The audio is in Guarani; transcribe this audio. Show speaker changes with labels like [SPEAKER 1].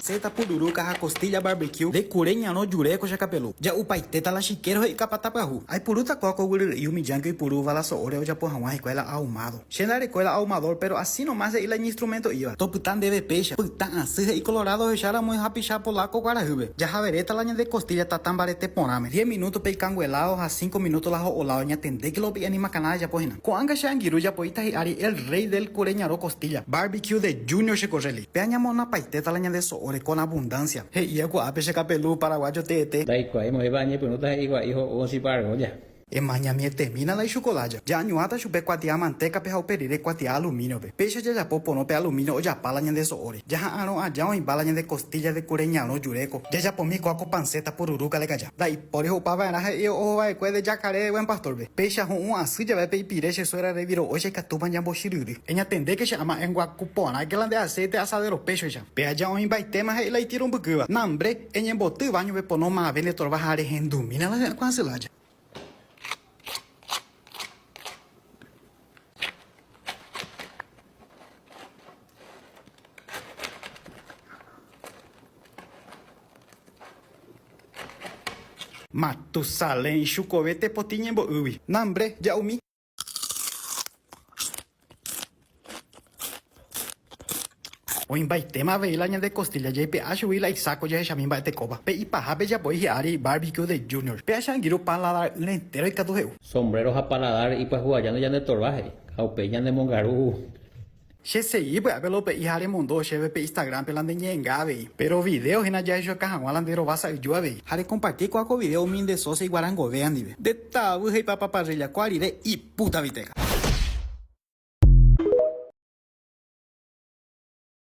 [SPEAKER 1] Seta pururuka ha costilla barbecue nde kure ñarõ jure ko chakapelu. Ja'upaitéta la chiquero he'i kapata pyahu. Aipurúta ko akoguy ry'i humillánke oipurúva la so'óre ojapo haguã hikuái la ahumado. Che ndarekue la ahumador péro así no más he'i la iñinstrumento íva. Topyta ndéve péicha. Pytã asy he'i colorado ohecha ramói hapicha polaco guarahýpe. Jahaveréta la ñande costilla tata mbarete porãme. Diez minútope ikangueládo ha cinco minúto la ho'oládo ñatendéke la opi'e animakãna rejapo hína. Ko'ãga che angirũ japoíta hi'ári el rey del kure ñarõ costilla barbecue de Junior che korréli. Pe añamonapaitéta la ñande so'óre con abundancia. He'i aikuaa pe che kapelu paraguayo teete. Ndaikuaái moépa añepyrũta he'i gua'i ho'u osĩpa argolla. Ema ñamietemína la ichukolája. Ja'añuãta chupe kuatia mantékape ha upe rire kuatia alumíniope. Péicha jajapo porõ pe alumínio ojapa la ñande so'óre. Jaha'arõ aja oĩva la ñande kostílla de kure ñarõ juréko. Jajapomi ko'áko panceta pururúka lekaja. Ndaipóri ho'upa va'erã he'i oho va'ekue de Jacaré buen pastor-pe. Péicha ho'u asy jave pe ipire che suegra reviro'óicha ikatúpa ñambochiryry. Eñatendéke che ama enguaku porãke la nde acéite asadero péchoicha. Pe aja oĩmbaitéma he'i la itiro mbykýva, Nambre, eñemboty váño pepono mave ne torva ha rehendumína la hy'akua asy la aja. Matusalén ichukove tepotĩ ñembo'ýgui. Nambre, ja'umi. Oĩmbaitéma avei la ñande kostilla jaipe'a chugui la isáko jahechami mba'etekóva. Pe ipahápe japoi hi'ári Barbecue de Junior. Pe acha angirũ paladar-ỹre entéro ikatu he'u. Sombrero ha paladar ipyahúva aja ndojanetorva he'i, ha upéi ñanemongaru. Che segi pya'épe lope'i ha remondo chéve pe Instagram-pe la ndeñe'enga avei. Péro vidéo hína jahechauka hag̃ua la nde rova sa'yju avei. Ha rekomparti ko'ã ko vidéo umi nde sósia iguarangove ndive. Nde. Ta'avy ha ipapa parrilla kua rire ipúta viteha.